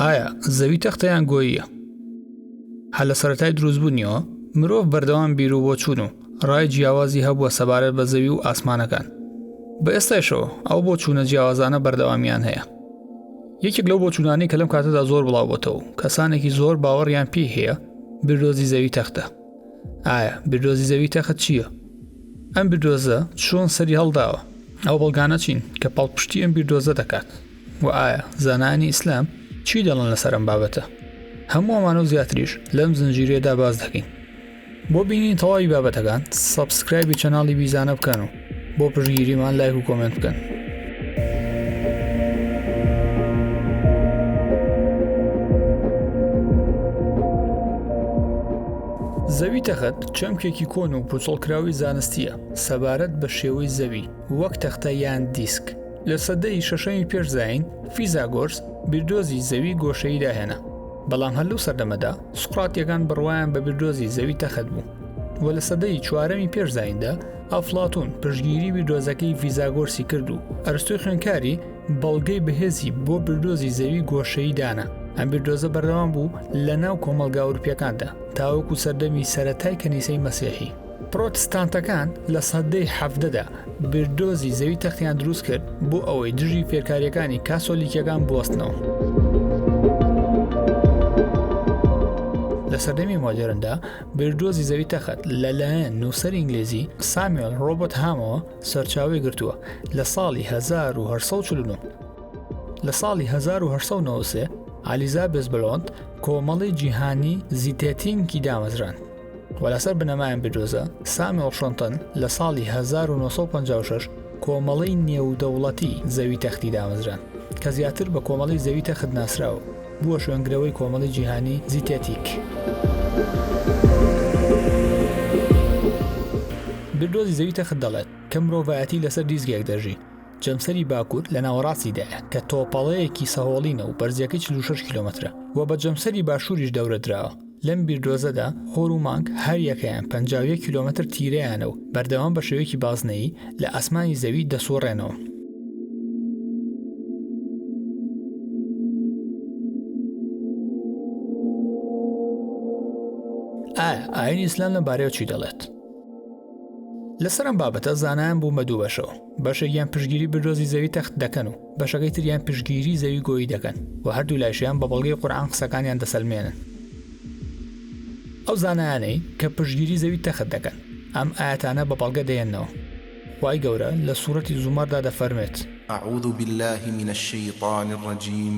ئایا زەوی تەختەیان گۆییە هە لە سەتای دروستبوونیەوە مرۆڤ بەردەوام بیرو بۆ چوون و ڕای جیاوازی هەبووە سەبارەت بە زەوی و ئاسمانەکان بە ئێستایشەوە ئەو بۆ چوونە جیاوازانە بەردەوامیان هەیە یەکێک لەو بۆ چوونانی کە لەم کاتەدا زۆر بڵاوبتەوە کەسانێکی زۆر باوەڕیان پێی هەیە بردۆزی زەوی تەختە ئایا بیردۆزی زەوی تەخت چییە؟ ئەم بیردۆزە چۆن سەری هەڵداوە؟ ئەو بەڵگانە چین کە پاڵپشتی ئەم بیردۆزە دەکات و ئایا زانایانی ئیسلام چی دەڵن لەسەر ئەم بابەتە؟ هەموو ئەمانە و زیاتریش لەم زنجیرەیەدا باس دەکەین. بۆ بینینی تەواوی بابەتەکان سەبسکرایبی چەناڵی بیزانە بکەن و بۆ پشگیریمان لایک و کۆمنت بکەن. زەوی تەخت چەمکێکی کۆن و پوچڵکراوی زانستیە سەبارەت بە شێوەی زەوی وەک تەختە یان دیسک لە سەدەی شەشەمی پێشزین فیزاگۆرس بیردۆزی زەوی گۆشەی داهێنا بەڵام هەر لەو سەردەمەدا سوقاتیەکان بڕوایان بە بیردۆزی زەوی تەخت بوو و لە سەدەی چوارەمی پێشزیندا ئەفڵاتوون پشگیری بیردۆزەکەی ڤیزاگۆرسی کرد و ئەرستۆی خوێنکاری بەڵگەی بەهێزی بۆ بردۆزی زەوی گۆشەی دانا ئەم بیردۆزە بەردەوام بوو لە ناو کۆمەلگا ئەوروپیەکاندا تاوەکو سەردەمی سەتای کەنیسەی مەسیحی پرۆتستانتەکان لە سەدەی حەڤدەدا بیردۆزی زەوی تەختیان دروست کرد بۆ ئەوەی دژی فێرکاریەکانی کاسۆلیکیەکان بوەستنەوە. لە سەردەمی مۆدێرندا بیردۆزی زەوی تەخت لەلایەن نووسەر ئینگلیزی سامیۆل ڕۆبەت هامەوە سەرچاوی گرتووە لە ساڵی 1940 لە ساڵی 1990 ئالیزا بزبلۆند کۆمەڵی جیهانی زیتێتینکی دامەزران و لەسەر بنەمایان بدۆزە سامیۆل شنتن لە ساڵی 1956 کۆمەڵی نێودەوڵەتی زەوی تەختی دامەزران کە زیاتر بە کۆمەڵی زەوی تەخت ناسراوە بووە شوێنگرەوەی کۆمەڵی جیهانی زیتێتیک. بیردۆزی زەوی تەخت دەڵێت کە مرۆڤایەتی لەسەر دیزگێک دەژی، جەمسەری باکوور لە ناوەڕاستیدایە کە تۆپەڵەیەکی سەهۆڵینە و بەرزییەکەی چل و شەش کیلۆمەترە و بە جەمسەری باشووریش دەورە دراوە. لەم بیردۆزەدا خۆر و مانگ هەر یەکەیان پەنجا و یەک کیلۆمەتر تیرەیانە و بەردەوام بە شێوەیەکی بازنەیی لە ئاسمانی زەوی دەسووڕێنەوە. ئایا ئاینی ئیسلام لەم بارەیەوە چی دەڵێت؟ لەسەر ئەم بابەتە زانایان بوون بە دوو بەشەوە، بەشێکیان پشگیری بردۆزی زەوی تەخت دەکەن و بەشەکەی تریان پشگیری زەوی گۆیی دەکەن و هەردوو لایشیان بە بەڵگەی قورآان قسەکانیان دەسەلمێنن ئەو زانایانەی کە پشگیری زەوی تەخت دەکەن ئەم ئاەتانە بە بەڵگە دێنەوە وای گەورە لە سوورەتی زومەردا دەفەرمێت أعوذ بالله من الشيطان الرجيم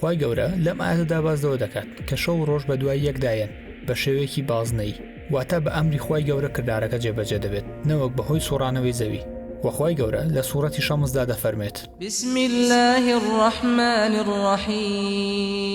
خوای گەورە لەم ئایەتەدا باس لەوە دەکات کە شەو و ڕۆژ بە دوای یەکدایەن بە شێوەیەکی بازنەیی واتە بە ئەمری خوای گەورە کردارەکە جێبەجێ دەبێت نەوەک بەهۆی سوڕانەوەی زەوی وەخوای گەورە لە سوڕەتی شەمسدا دەفەرمێت بسم اللە الرحمن الرحیم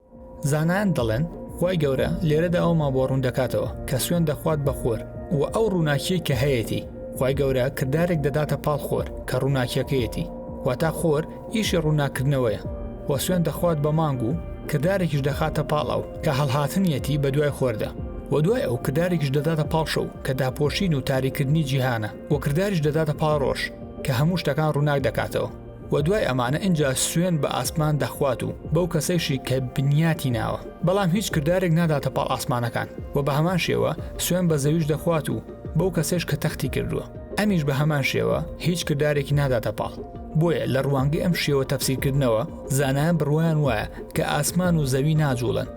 زانایان دەڵێن خوای گەورە لێرەدا ئەومان بۆ ڕوون دەکاتەوە کە سوێن دەخوات بە خۆر و ئەو ڕووناکیەی کە هەیەتی خوای گەورە کردارێک دەداتە پاڵ خۆر کە ڕووناکیەکەیەتی واتا خۆر ئیشی ڕووناکردنەوەیە و سوێن دەخوات بە مانگ و کردارێکیش دەخاتە پاڵ ئەو کە هەڵهاتنیەتی بە دوای خۆردا و دوای ئەو کردارێکیش دەداتە پاڵ شەو کە داپۆشین و تاریکردنی جیهانە و کرداریش دەداتە پاڵ ڕۆژ کە هەموو شتەکان ڕووناک دەکاتەوە و دوای ئەمانە ئینجا سوێن بە ئاسمان دەخوات و بەو کەسەیشی کە بنیاتی ناوە بەڵام هیچ کردارێک ناداتە پاڵ ئاسمانەکان و بە هەمان شێوە سوێن بە زەویش دەخوات و بەو کەسێش کە تەختی کردووە ئەمیش بە هەمان شێوە هیچ کردارێکی ناداتە پاڵ بۆیە لە ڕوانگەی ئەم شێوە تەفسیرکردنەوە زانایان بڕوایان وایە کە ئاسمان و زەوی ناجوڵن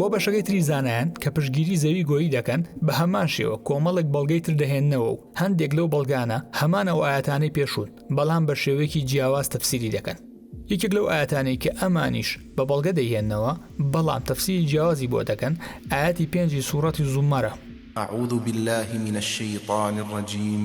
بۆ بەشەکەی تری زانایان کە پشگیری زەوی گۆیی دەکەن بە هەمان شێوە کۆمەڵێک بەڵگەی تر دەهێننەوە و هەندێک لەو بەڵگانە هەمان ئەو ئاەتانەی پێشوون بەڵام بە شێوەیەکی جیاواز تەفسیری دەکەن یەکێک لەو ئاەتانەی کە ئەمانیش بە بەڵگە دەهێنەوە بەڵام تەفسیری جیاوازی بۆ دەکەن ئاەتی پێنجی سوورەتی زومەرە أعوذ بالله من الشيطان الرجيم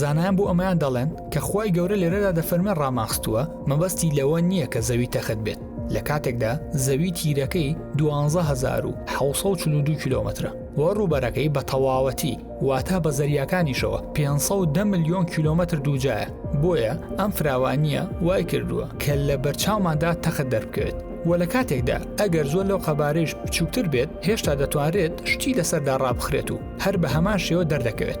زانایان بۆ ئەمەیان دەڵێن کە خوای گەورە لێرەدا دەفەرمێ ڕاماخستووە مەبەستی لەوە نییە کە زەوی تەخت بێت لە کاتێکدا زەوی تیرەکەی 12642 کیلومترە و ڕووبەرەکەی بە تەواوەتی واتا بە زەریاکانیشەوە 510 میلیۆن کیلومتر دووجایە بۆیە ئەم فراوانیە وای کردووە کە لە بەرچاوماندا تەخت دەربکەوێت و لە کاتێکدا ئەگەر زۆر لەو قەبارەیش بچووکتر بێت هێشتا دەتوانرێت شتی لەسەردا ڕابخرێت و هەر بە هەمان شێوە دەردەکەوێت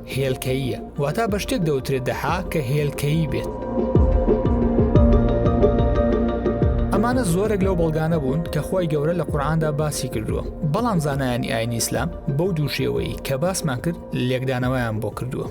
هێلکەییە، واتا بە شتێک دەوترێت دەحا کە هێلکەیی بێت. ئەمانە زۆرێک لەو بەڵگانە بوون کە خی گەورە لە قورآاندا باسی کردووە بەڵام زانایانی ئاین ئیسلام بەو دووشێوەی کە باسمان کرد لێکدانەوەیان بۆ کردووە.